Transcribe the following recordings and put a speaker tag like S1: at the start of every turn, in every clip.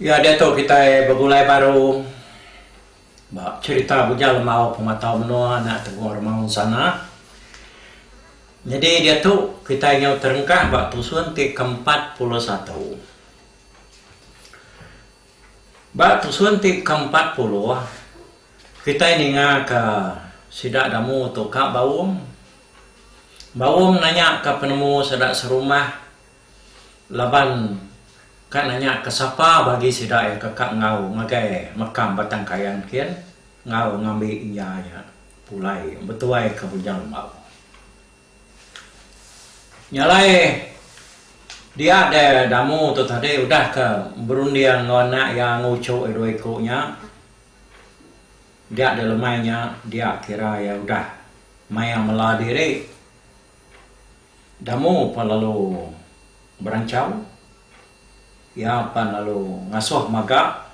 S1: Ya diatu kitai begulai baru ba cherita Bujang Lemau Pematau Menua anak Teguh Remaun Sana. Nyadi diatu kitai nyau terengkah ba tusun ti ke empat puluh satu. Ba tusun ti ke empat puluh kitai ninga ka sida Damu tu ka Baum. Baum nanya ka penemu sida serumah Laban ka nanya ke sapa bagi sida iya ke ka enggau ngagai mekam Batang Kayan kin enggau ngambi iya iya pulai betuai ke Bujang Lembau. Nya alai dia de Damu tu tadi udah ke berunding enggau anak iya enggau uchu iya dua iku nya dia de lemai nya dia kira iya udah maya mela diri. Damu pan lalu beranchau, iya pan lalu ngasuh maga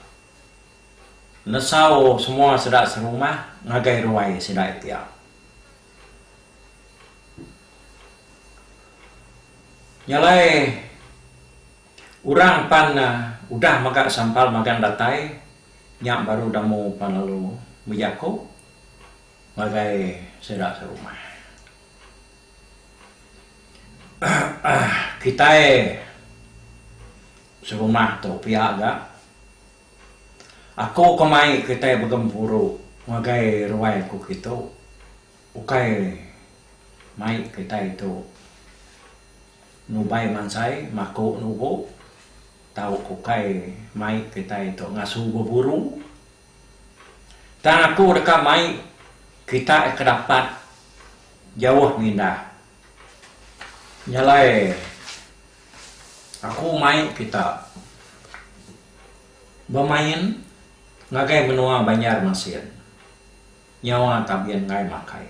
S1: nesau semua sida serumah ngagai ruai sida iti iya. Nya alai orang pan udah mega sampal magang datai nya baru Damu pan lalu bejaku ngagai sida serumah. Kitai serumah tu pia ga aku ke mai kitai begempuru ngagai ruai aku ke tu ukai mai kitai tu nubai mansai maku nubo tau ukai mai kitai tu ngasu beburu. Tang aku deka mai kita ke dapat jauh mindah. Nyalai aku mai kita bemain ngagai menua Banjarmasin nyawa Tabin Ngai Makai.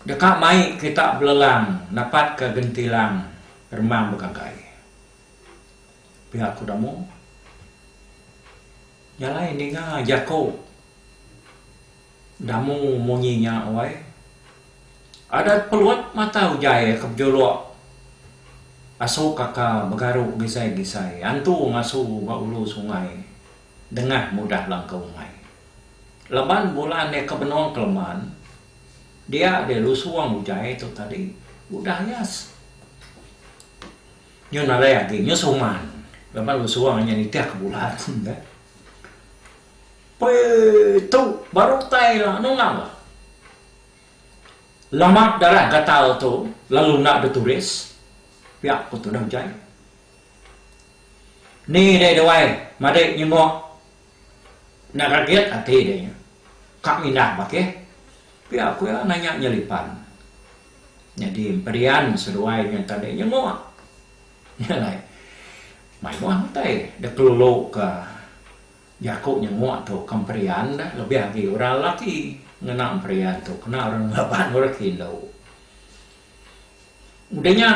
S1: Deka mai kita belelang napatka gentilang remang begagai. Pia aku da mung nyalai ninga jako damu munyi nya wai. Adat peluat mata ujai ke bejulok asu kaka begaru gisai-gisai antu ngasu ba ulu sungai dengah mudah langka umai. Laban bulan nya ke benong keleman dia deh lusung ujai tu tadi udah ayas. Nyun alai agi nyun suman laban lu suang inya nitih ke bulan ka. Pei tu baru utai ila nungau la. Lama darah gatal tu lalu enda dituris pia ku tudah ujai. Ni dei duai madik nyenguk. Enda ragit ati deh nya. Ka mindah bakih. Pia ku iya nanya nya lipan. Nyadi Emperian seduai nya enta deh nyenguk. Nya alai mayuh utai deh kelulu ka jaku nyenguk tu ka Emperian deh lebih agi orang lelaki ngena Emperian tu kena orang ngelaban orang ke indu. Udah nya.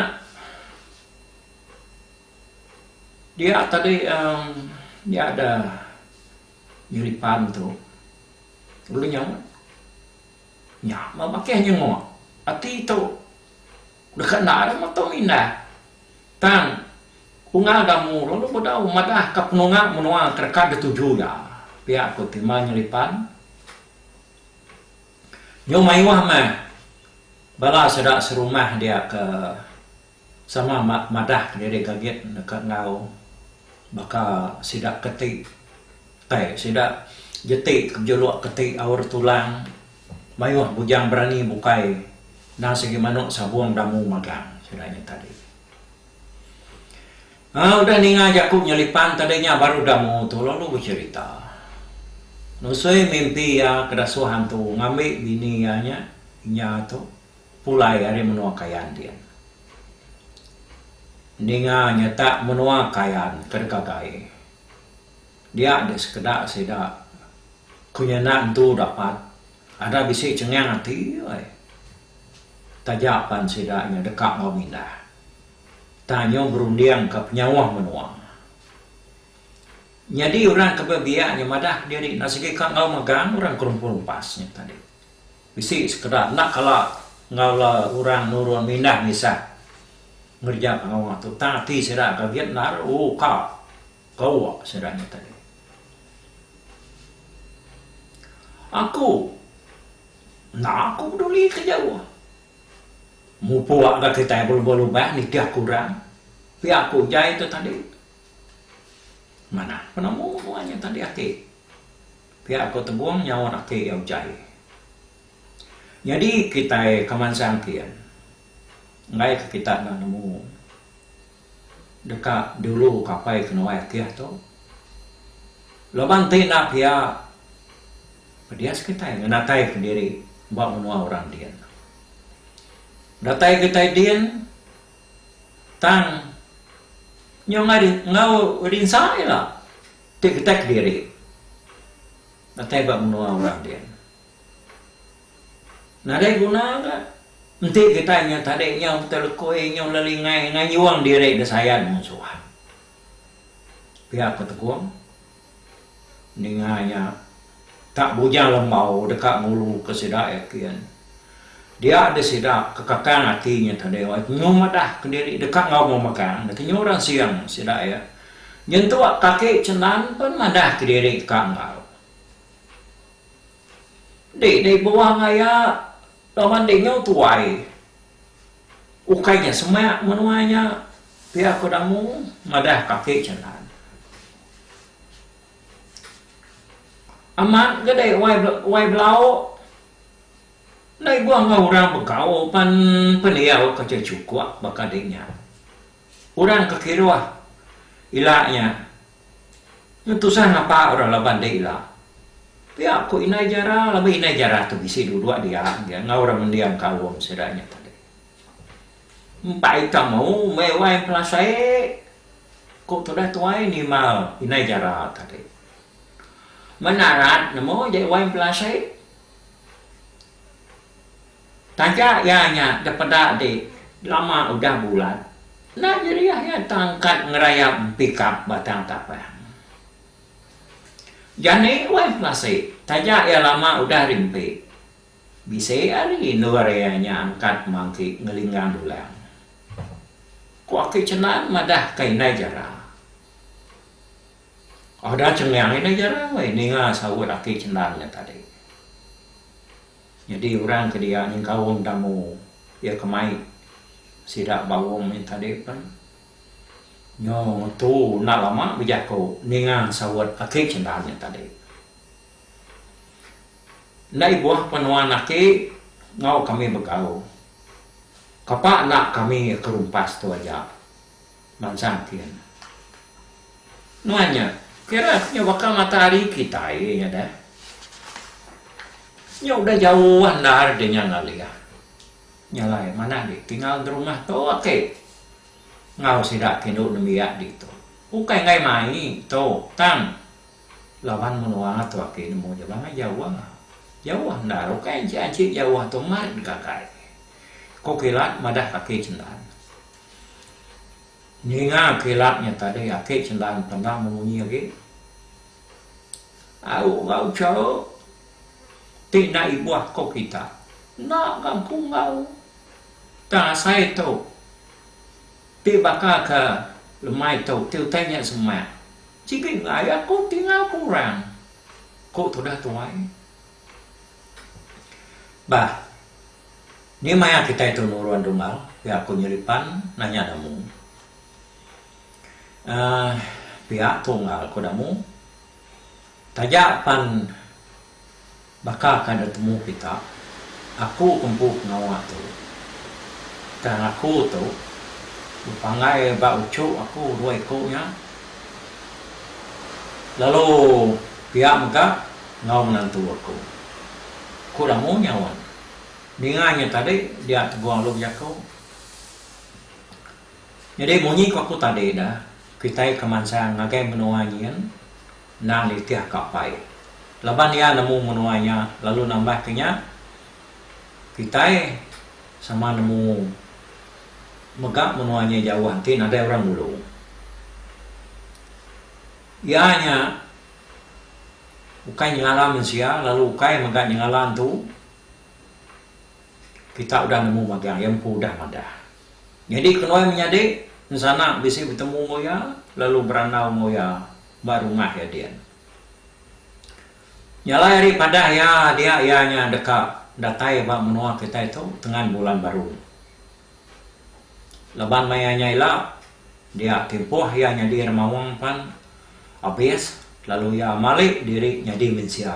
S1: Dia tadi uhh nya da nyeri pan tu ulu nya nya meh bakih nyengok ati tu deka enda deh motong indah tang unggal gamu lalu bedau madah ka penunga menua ke deka dituju iya pia ku ti meh nyeri pan nyau mayuh meh bala sida serumah dia ke Sama madah diri gagit deka enggau baka sida ke ti utai sida jeti ke bejuluk ke ti aur tulang mayuh bujang berani bukai endang sigi manu sabung damu magang sida nya tadi. Aaa udah ninga jaku nyelipan tadi nya baru damu tu lalu becherita nusui mimpi iya ke dasuh antu ngambi bini iya nya inya tu. Pulai ari menua Kayan ti. Ninga nyata menua Kayan ke digagai dia dek sekeda sida ku nyenda entu dapat ada bisi chengang ati ai taja pan sida nya deka enggau mindah tang nyu berunding ke penyauh menua. Nyadi orang ke bebiak nya madah ke diri enda sigi ka enggau megang orang ke rumpu lepas nya tadi. Bisi sekeda enda kala enggau la orang nurun mindah ngisah ngereja pengawa tu tang ati sida gagit endar u ka gawa sida nya tadi. Aku enda ku peduli ke jauh. Mupuk ga kitai belubang lubang nitih ke orang pia ku jai tu tadi. Manah penemu nuan nya tadi ati. Pia ko Tebong nyaut ati iya utai. Nyadi kitai ka mansang kin enggai ka kita enda nemu deka dulu ka apai ke nuai akih tu. Laban ti enda pia pedis kitai ngenatai ka diri ba menua orang din. Datai kitai din tang nyau enggau rinsa ila. Ti kitai kediri datai ba menua orang din. Nadai guna ka enti kitai nyau tadi nyau betul lekui nyau lelingai ngayung diri disayan mung suan. Pia Petegong ninga nya. Ka bujang lembau deka nguluka sida yakin. Dia deh sida ke kakang ati nya tadi wai kenyu madah kediri deka enggau memegang deh kenyu ransing sida iya. Nyentuk kaki Cenan pen madah kediri ka enggau. Di deh buang aya laban dinyu tuai. Ukai nya semak menua nya pia ko Damu madah kaki Cenan. Amat ga dai wai wai belau ndai guang enggau orang begau pan pendiau ke ti chukuk baka ding nya. Orang ke kiruh ila nya nyen tusah ngapa orang laban dek ila. Pia ku indai jara laban indai jara tu bisi duduk dia dia enggau orang mending kaum sida nya tadi. Empai temu meh wai pelasai Ku tudah tuai nimal indai jara tadi. Menarat nemu Jai Wain Pelasik. Taja iya nya dipeda di lama udah bulat enda jeriah iya tang kad ngerayap pikap batang tapang. Jani Wain Pelasik taja iya lama udah rimpi. Bisi ari endur iya nya angkat mangki ngelinggang dulang. Ku Aki Cenan madahka Indai Jara. Ada cengang Indai Jara weh ninga saut Aki Cenan nya tadi. Nyadi orang ke dia nyengkaum tamu iya ke mai sida ba Aum nya tadi pen nyo ngetu enda lama bejaku ninga saut Aki Cenan nya tadi. Enda ibuh pun nuan aki ngau kami begau. Kapa enda kami ke rumpas tu aja mansang kin. Nuan nya kira nya baka matahari kitai nya deh. Nya udah jauh andar deh nya ngalih. Nya alai manah deh tinggal di rumah tu aki ngau sida ke indu nembiak ditu. Ukai enggai mai tu tang. Laban menua tu ake nemu ja bangai jauh. Jauh enda aro kai anchik anchik jauh tu mat deka kai. Ko kilat madah ka ake cendan. Ninga kilat nya tadi ake cendan penda memunyi agi. Au ga ucharu ti enda ibuh ko kita. Enda ga empu enggau. Tang asai tu ti baka ka lemai tu ti utai nya semak. Sigi enggai aku tinggal ke orang, ku tudah tuai. Bah, ni maya kitai tu nurun Dungau, ku aku nyelipan nanya Damu. Aah, pia Tunggal, ku Damu. Taja pan. Baka ka dek temu kita, aku empu pengawa tu. Tang aku tu bepanggai ba uchu aku dua iku nya. Lalu pia mega enggau menantu aku. Ku Lamu nyaut. Ninga nya tadi dia tegung alu jaku. Nyadi munyi ku aku tadi dah, kitai ke mansang ngagai menua nyin. endang nitih ka apai. Laban iya nemu menua nya lalu nambah ke nya, kitai sama nemu mega menua nya jauh enti nadai orang nulung. Iya nya ukai nyengala mensia lalu ukai mega nyengala entu kita udah nemu magang, iya empu udah madah. Nyadi ke nuan menyadi ensana bisi betemu enggau iya lalu berandau enggau iya. ba rumah iya din. Jalai ari padah iya dia iya nya deka datai ba menua kitai tu tengan bulan baru. Laban maya nya ila dia timpuh iya nyadi remaung pan abis lalu iya mali diri nyadi mensia.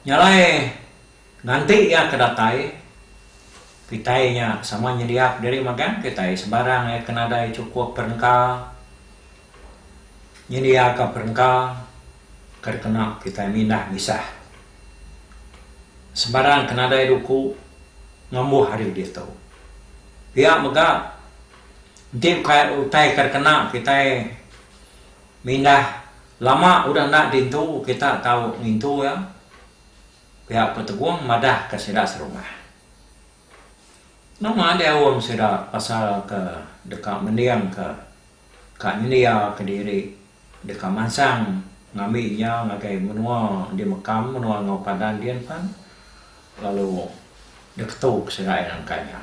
S1: Nya alai, nganti iya ke datai, kitai nya sama nyediak diri magang kitai sebarang iya ke nadai chukup perengka, nyendiaka perengka ke dikena kitai mindah misah sebarang ke nadai duku ngembuh ari ditu. Pia mega, enti ukai utai ke dikena kitai Mindah lama udah enda dintu kita tau ngintu iya, piak Petegong madah ke sida serumah. Nama deh aum sida pasal ke deka mending ke ka nyendia ke diri deka mansang ngambi nya ngagai menua di mekam menua enggau padan di enpan Lalu deh ketu kesegai nangka nya.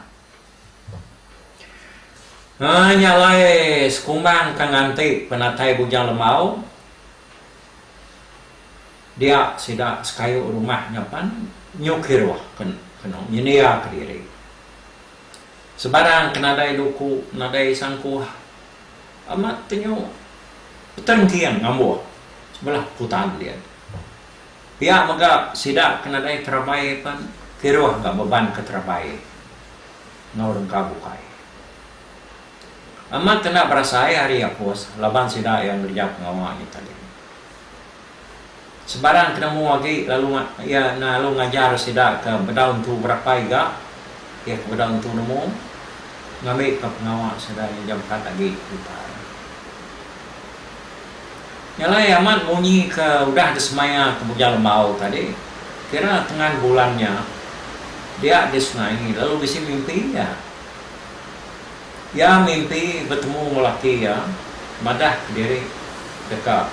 S1: Ai nya alai sekumbang ka nganti penatai Bujang Lembau. Dia sida sekayu rumah nya pan nyu kiruh kenu nyendia kediri. Sebarang ke nadai duku, nadai sangkuh amat tenyu peterengking ngambuh sebelah kutan dia. Pia mega sida ke nadai terabai pen kiruh enggau beban ke terabai enggau orang ka bukai. Amat enda berasai ari Apus laban sida iya ngereja pengawa nya tadi. Sebarang penemu agi lalu iya lalu ngajar sida ke bedau entu berapai ga iya ke bedau entu nemu ngambika pengawa sida nyengjampad agi utai. Nya alai amat munyi ke udah disemaya ke Bujang Lembau tadi, kira tengan bulan nya dia di sungai lalu bisi mimpi iya. Iya mimpi betemu enggau laki iya madah kediri deka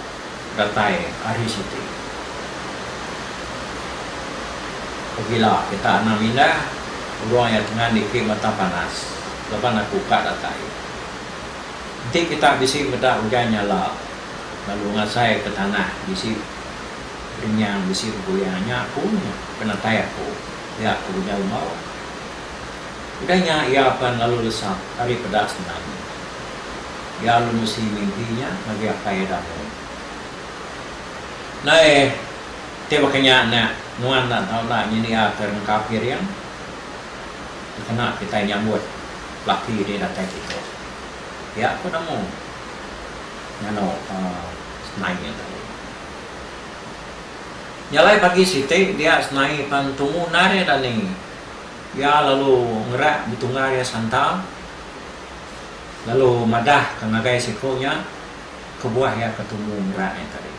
S1: datai ari siti. Pegila kita anang mindah urang iya tengan niki mata panas laban aku ka datai. Enti kita bisi meda ujan nyala lalu ngasaika tanah bisi rinyang bisi beguyang nya aku nya penatai aku pia ku ujar Lembau. Udah nya iya pan lalu lesap ari peda Semenanjung. Iya lalu nusi mimpi nya ngagai apai iya Damon. Nai ti baka nya enda nuan enda tau enda nyediaka rengka piring dikena kitai nyambut laki ti datai kitu. Pia ku nemu nganu senai nya tadi. Nya alai pagi siti dia senai pan tumu endar iya dani. Iya lalu ngerak betungga iya santa lalu madah ka ngagai siko nya kebuah iya ke tumu ngerak nya tadi.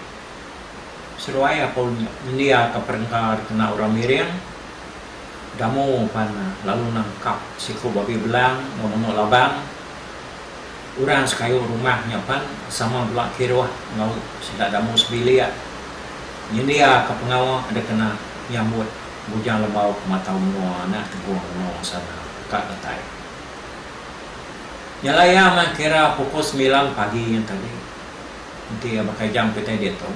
S1: Seduai aku nyendia ka perengka dikena orang Miring. Damu pan lalu nangkap siku babi belang enggau menua labang. Orang sekayu rumah nya pan sama bela kiruh enggau sida Damu sebilik nyendiaka pengawa dikena nyambut Bujang Lebau ke matau menua anak Tegong Reno sana ka datai. Nyala iya meh kira pukul semilan pagi nya tadi. Enti iya baka jam kitai ditu.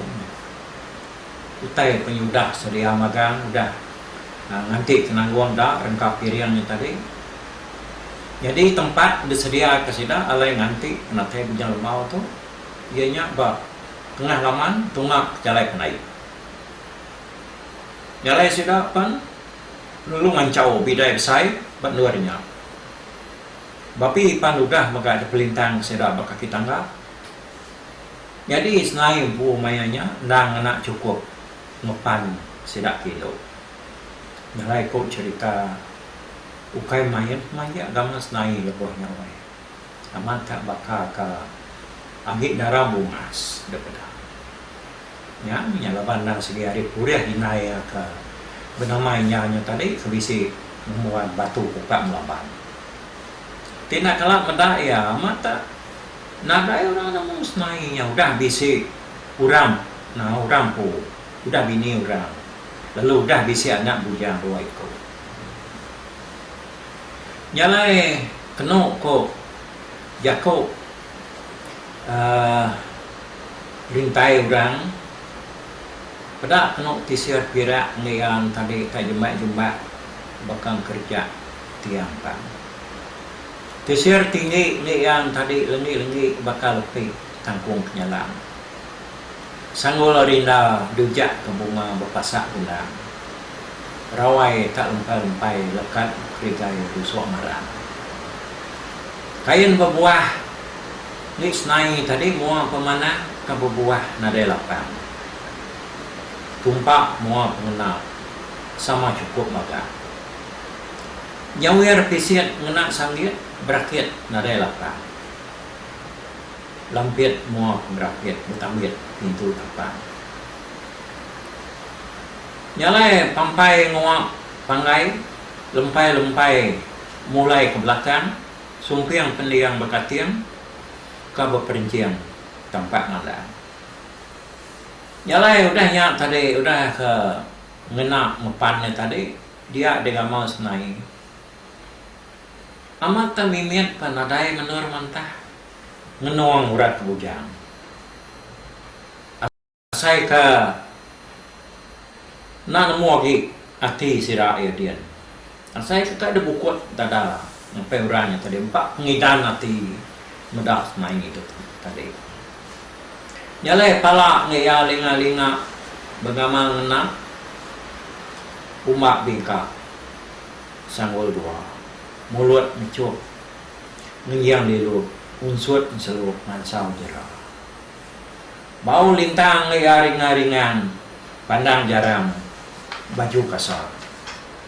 S1: Utai penyudah sedia magang udah nganti Tenanggong da rengkap piring nya tadi. Nyadi tempat disediaka sida alai nganti penatai Bujang Lemau tu iya nya ba tengah laman tunga Jalai Penai. Jalai sida pen lalu manchau bidai besai ba endur nya. Bapi pan udah mega dipelintang sida ba kaki tangga. Nyadi senai empu maya nya endang ngena chukup ngepan sida ti indu. Nyelai ku cherita ukai main pemajik gaman senai lebuh nya weh. Amat ka baka ka agi dara bungas dep peda. Nya nya laban endang sigi ari purih indai iya ka benamai nya nya tadi ke bisi ngembuan batu puka melaban. Ti enda kala meda iya amat tak. Nadai orang nemu semai nya udah bisi orang enggau orang empu udah bini orang lalu udah bisi anak bujang dua iku. Nya alai kenu ku jaku uhh rintai orang peda kenu tisir pirak ngeang tadi ka jembai jumbat baka ngekerja tiang pan. Tisir tinggi nya iya entadi lenggi-lenggi baka lepi kangkung penyalang. Sanggul ari enda dujak ke bunga bepasak gendang. Rawai tak lempai-lempai lekat bekerigai rusuk marang. Kain bebuah ni senai tadi mua pemanah ke bebuah nadai lapang. Tumpa mua pengena sama chukup magang. Nyawir pisit ngena sanggit berakit nadai lapan. Lampit mua pengerapit betambit pintu tapan. Nyalai pampai nguap panggai lempai-lempai mulai ke belakang sumping pending bekating ka beperenching tampak ngadang. Nyalai udah nya tadi udah ke ngena ngepan nya tadi. Dia deh gamal senai. Amat tang mimit pan nadai menur mantah ngenung urat ke bujang. Asai ka enda nemu agi ati sida iya din. Asai ka ka debukut dada Ngapai orang nya tadi empa pengidan ati meda kemai idup tadi. Nya alai pala enggau iya linga-linga bengama ngena umba bingka sanggul dua, mulut mechup ngenjing lilu unsut enselu mansau jera. Bau lintang enggau iya ringa-ringang pandang jarang baju kasar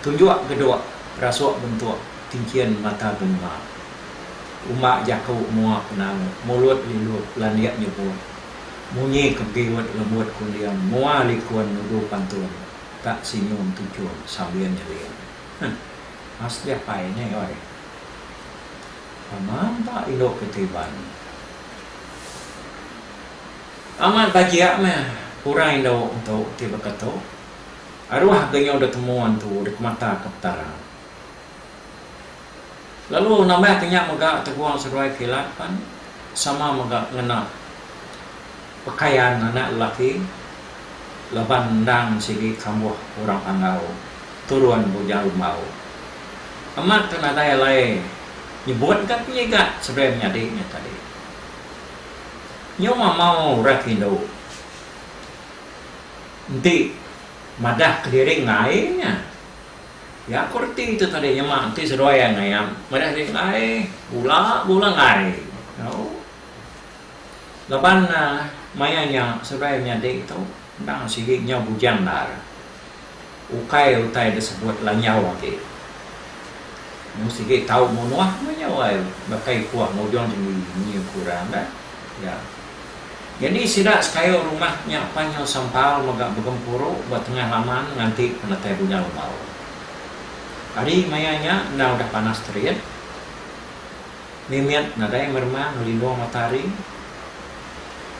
S1: Tunjuk geduk rasuk bentuk kinchin mata benua. Uma jaku mua penau mulut lilup landik nyebut. Munyi ke biut lembut kunding mua likun nudu pantun ka sinyum tuchum sambil nyeling. Huh. Mas Japai nih oi. Aman ba indu ke ti iban. Amat bajik meh orang indu tu ti beketu. Aruh ke nyau detemu antu dikemataka Petara. Lalu nama ke nya mega teguang seduai kilat pan sama mega ngena pekaian anak lelaki laban endang sigi kambuh orang Panggau turun Bujang Rumbau. Amat ke nadai alai nyebut ga penyiga seduai menyadi nya tadi. Nyau mamau urai ke indu. Enti madah kediri enggai nya iya ko reti tu tadi nyema enti seduai angai iya madah diri enggai bula bula enggai tau laban maya nya seduai menyadi tu endang sigi nyau bujang endar ukai utai da sebut lanyau agi mung sigi tau munuh meh nyau ai baka ikuh ngujung tinggi nyi ku orang dah iya. Nyadi sida sekayu rumah nya panyu sampal mega begempuru ba tengah laman nganti penatai bunya lembau. Hari maya nya enda udah panas terit, mimit nadai meremang ngelindung matahari.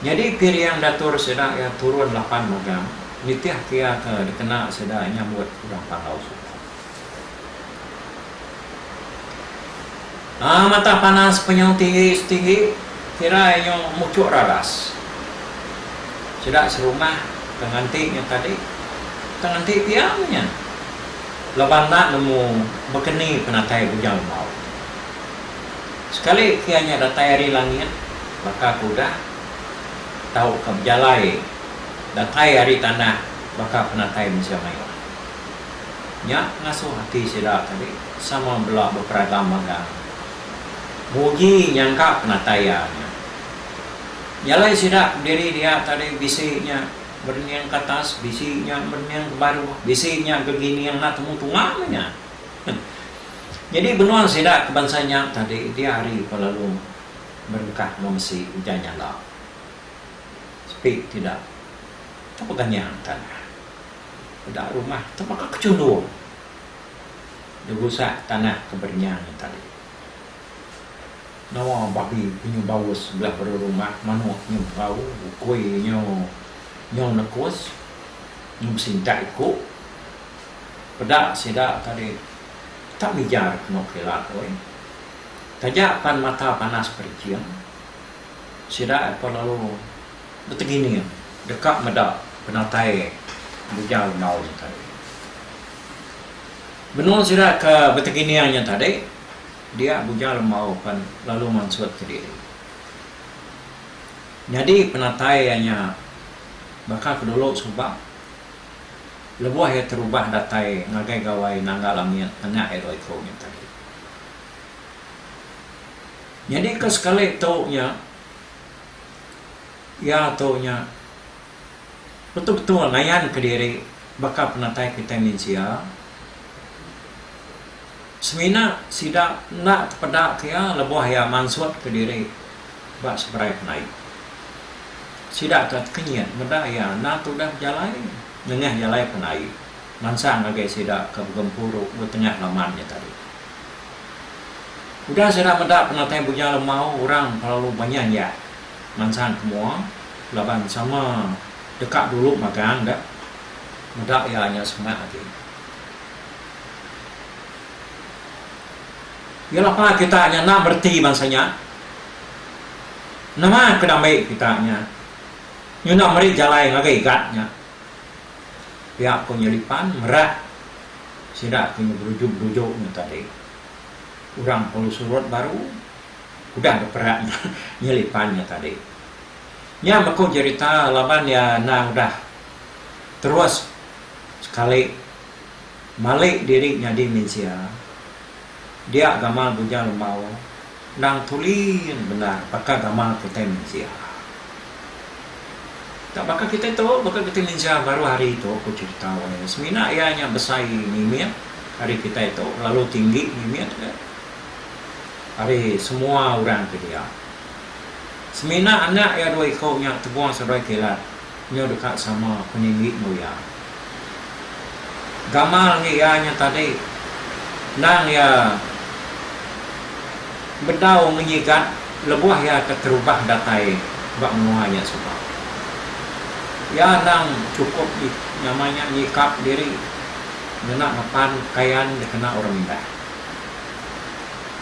S1: Nyadi pirian datur sida iya turun lapan magang nitihka iya ke dikena sida nyambut urang Panggau Suku. Haa mata panas penyau tinggi setinggi kira inyo muchuk radas sida serumah ke nganti nyo tadi ke nganti pia nya laban enda nemu bekeni penatai bujang enggau sekali kia nya datai ari langit baka ke udah tauka bejalai datai ari tanah baka penatai mensia mayuh. Nya ngasuh ati sida tadi sama bela beperagam magang. Muji nyangka penatai iya nya. Jalai sida diri dia tadi bisi nya berening ke atas, bisi nya berening ke baru, bisi nya gegining enda temu tunga meh nya. Nyadi benung sida ke bansa nya tadi dia hari ke lalu berengkah enggau mesi ujan nyala. Sepi tidak. Tepeganyang tanah. Peda rumah tu baka kechundung derusak tanah ke berenyang nya tadi. Nawa babi nyu baus sebelah baru rumah manuk nyu berau ukui nyu nyu nekus nyu besintak iku. Peda sida tadi tak mija rak eno kilat oi. Taja pan mata panas perinching sida eko lalu. Betegining deka meda penatai bujang rengau nya tadi. Benung sida ke betegining nya tadi, dia bujang rengau pan lalu mansut ke diri. Nyadi penatai iya nya baka ke dulu suba lebuh iya terubah datai ngagai gawai nangga langit anak iya dua iku nya tadi. Nyadi ke sekali tu nya. Iya tu nya betul-betul ngayanka diri baka penatai kitai mensia. Semina sida enda tepedaka iya lebuh iya mansutka diri ba seberai penai. Sida ka tekenyit meda iya enda tudah bejalai nengah jalai penai mansang agi sida ke begempuru betengah laman nya tadi. Udah sida meda penatai Bujang Lemau orang kelalu banyan iya mansang ke mua laban sama deka dulu magang dek meda iya nya semak agi. Iya lapa kita nya enda bereti bansa nya. Nama ke dambi kita nya nyudah meri jalai ngagai gat nya. Pia ku Nyelipan merat. sida ti ngeberuju-beruju nya tadi. Orang perlu surut baru udah beperak nyelipan nya tadi. Nya meku jerita laban iya enda udah terus sekali malik diri nyadi mensia dia gamal Bujang Lembau. Endang tulin bendar baka gamal kitai mensia. Tang baka kitai tu, baka kitai mensia baru hari tu ku cherita wayah semina iya nya besai mimit ari kitai tu, lalu tinggi mimit ga ari semua orang ke dia. Semina anak iya dua iku nya tebuh seruai kilat. Nyau deka sama peninggi enggau iya. Gamal ngi iya nya tadi endang iya bedau menyigat lebuh iya keterubah datai ba menua nya suba. Iya endang chukup nyama nya nyikap diri ngena ngepan pekayan dikena orang indah.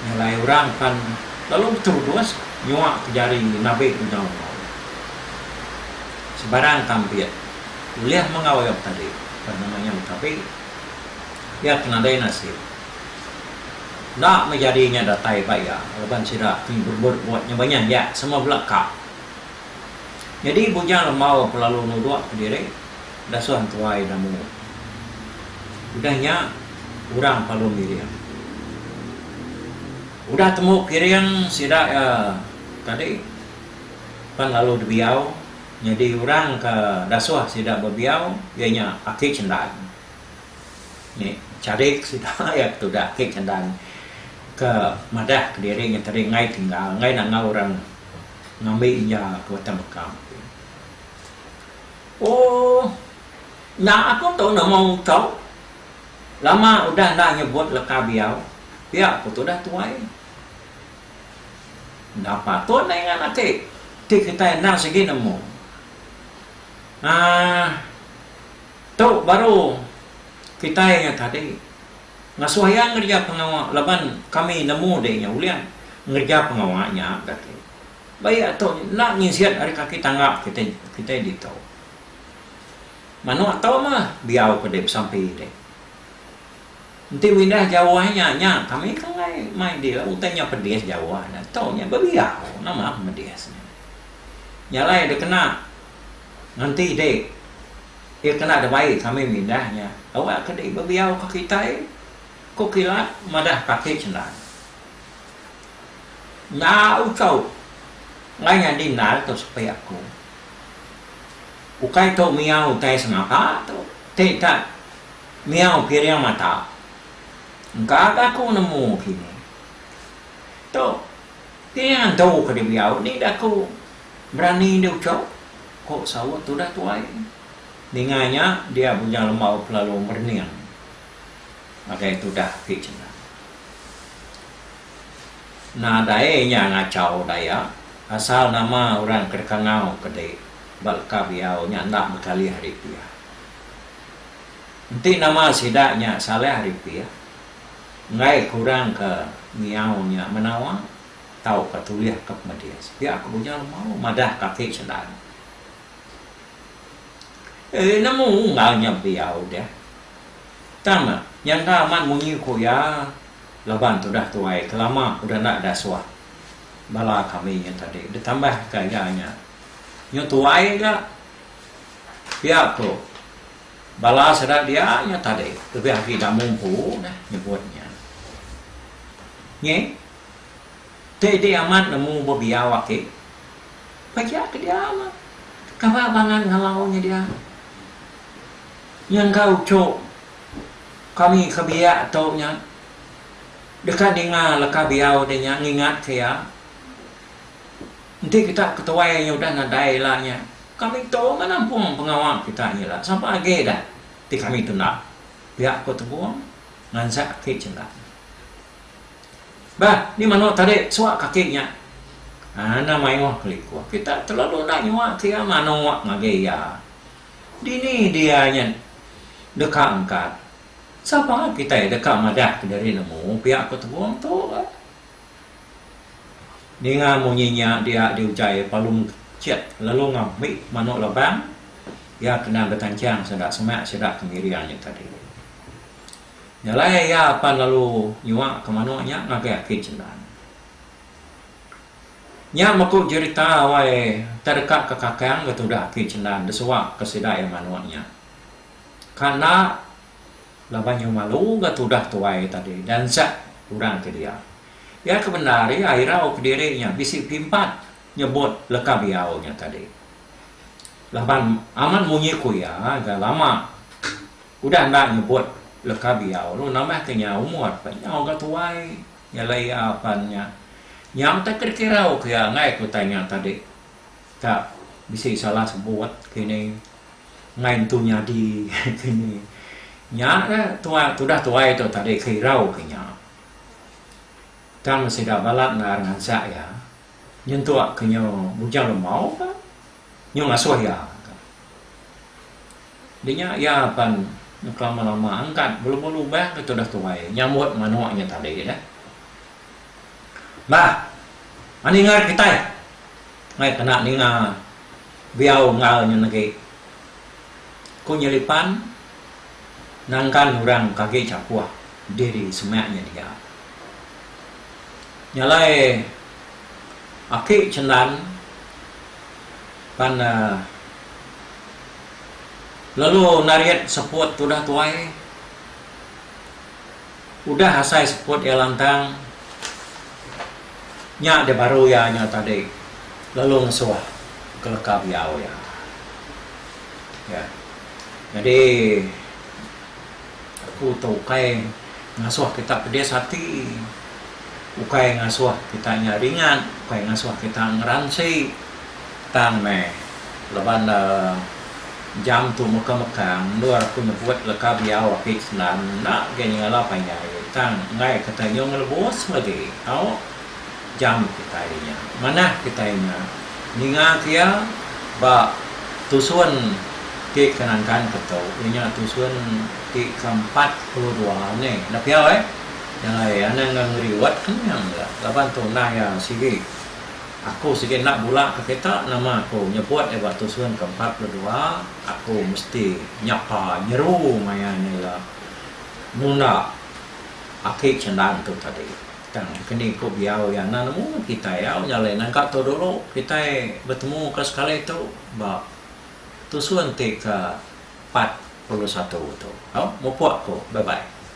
S1: Nyelai orang pan lalu beterubus nyuaka jari nabi unyau enggau iya. Sebarang kampit ulih menggau iya betali ba nama nya betabi pia ke nadai nasib enda meh jadi inya datai ba iya laban sida ti berebut-rebut nyebanyah iya sama bela ka. Nyadi Bujang Lembau ke lalu nuduk ke diri dasuh entuai Damu udah nya orang Palung Giring. Udah temu Kiring sida iya tadi. pan lalu dibiau nyadi orang ke dasuh sida bebiau iya nya Aki Chendan. Ni charik sida iya ke tudah Aki Chendan ke madah kediri nyeteri enggai tinggal enggai nangau orang ngambi inja ke Batang Bekam ti. Ooh nya aku tu nama Uto lama udah enda nyebut leka biau pia ku tudah tuai. Enda patut nae ngan ati ti kitai enda sigi nemu. Aah tu baru kitai nya tadi ngasuh iya ngereja pengawa laban kami nemu deh iya ulih ngereja pengawa nya gati. Ba iya tu enda nginsit ari kaki tangga kitai kitai ditu. Manuk tu mah biau ke deh besampi deh. Enti windah jauh nya nya kami ke alai mai dia utai nya pedis jauh nya tau nya bebiau nama ke medis nya. Nya alai da kena nganti dek iya kena da bai kami mindah nya awak ke dek bebiau ke kitai ko kilat madah kaki cendal. Nya ucau alai nyadi endar tu sepi aku. Ukai tu miau utai semaka tu ti tak Miau piring mata. Engka ga aku nemu kini. Tu, piring antu ke dibiau ni da aku berani di uchup, ku saut tudah tuai. Ninga nya, dia Bujang Lembau kelalu merening ngagai tudah ti chena. Nadai nya ngachau Dayak, asal nama orang ke deka ngau ke dei ba leka biau nya enda bekalih ari pia. Enti nama sida nya salah ripih, enggai kurang ke ngiau nya menawa tauka tulih ke pemedis. Pia ke Bujang Lemau madah kaki sendang nya. Eeh nemu enggau nya pia udah. Tang nya enda amat munyi ku iya laban tudah tuai kelama udah enda dasuh bala kami nya tadi ditambah ka iya nya nyu tuai ga. Pia ko bala sida dia nya tadi lebih agi enda mumpu neh nyebut nya. Nyi ti di amat nemu bebiau aki pejah ke dia mah kaba bangan ngalau nya dia. Nyengka uchu kami ke biak tu nya deka ninga leka biau dia nya ngingat ke iya. Enti kita ketuai iya udah nadai ila nya, kami tu meh nampung pengawa kita nya ila sama agi dah ti kami tu enda, pia ku Tebong ngansak aki Chelak. Bah, ni manuk tadi suak kaki nya ngana mayuh kelikuh. Kita telalu enda nyuak ke iya manuk ngagai iya. Dini dia nya deka angkat? Sapa kitai deka madah kediri nemu, pia ku Tebong tu bah. Ninga munyi nya dia di ujai Palung Chet lalu ngambi manuk labang iya kena betancang sanda semak sida ke ngiring nya tadi. Jalai iya pan lalu nyuaka manuk nya ngagai aki Chendan. Nya meku jerita wai tai deka ke kakang ke tudah aki Chendan desuaka sida iya manuk nya. Ka enda Laban nyau malu ga tudah tuai tadi dansak orang ke dia. Iya ke bendar ri airau kediri nya bisi pimpat nyebut leka biau nya tadi. Laban amat munyi ku iya ga lama udah enda nyebut leka biau lu nambah ke nya umur pun nyau ga tuai nyelai iya apan nya. Nyau tak dikirau ku iya enggai ku utai nya tadi. Ka bisi salah sebut kini ngai entu nyadi kini. Nya ka tuai tudah tuai tu tadi ke irau ke nya. Tang sida balat endar ngansak iya nyentuk ke nya Bujang Lemau ka nyu ngasuh iya ka. Dinya iya pan kelama-lama angkat belu-belu lubang ke tudah tuai nyambut manuk nya tadi dah. Bah, mani ngar kitai mai kena ninga biau enggau nyen agi. Ku Nyelipan nangkan orang ke agi chapuh diri semak nya dia. Nya alai aki Cendan pan lalu narit seput tudah tuai. Udah asai seput iya lantang, nya deh baru iya nya tadi lalu ngesuh ke leka biau iya. Ya. Nyadi aku tu ukai ngasuh kitak pedis ati. ukai ngasuh kita nya ringat, ukai ngasuh kita ngeransi tang meh laban le jam tu meka-meka endur aku nyebut leka biau ati sendam enda agei nyengala panjai tang enggai ke kita nyung lebus legi tau jam kitai nya. Manah kitai nya ninga ke iya ba tusun ti ke nangkan ke tu iya nya tusun ti ke empat puluh dua ni. Enda pia weh. Nyalai anang enggau ngeri wat kenyang ga laban tu endang iya sigi. Aku sigi enda bula ke kita nama aku nyebut iya ba tusun ke empat puluh dua aku mesti nyapa nyeru maya nya iya nunda aki chendang tu tadi. Tang keni ku biau iya enda nemu kitai au nyalai nangka tu dulu kitai betemu ke sekali tu ba tusun ti ke empat puluh satu tu. Au mupuk ku. Bye bye.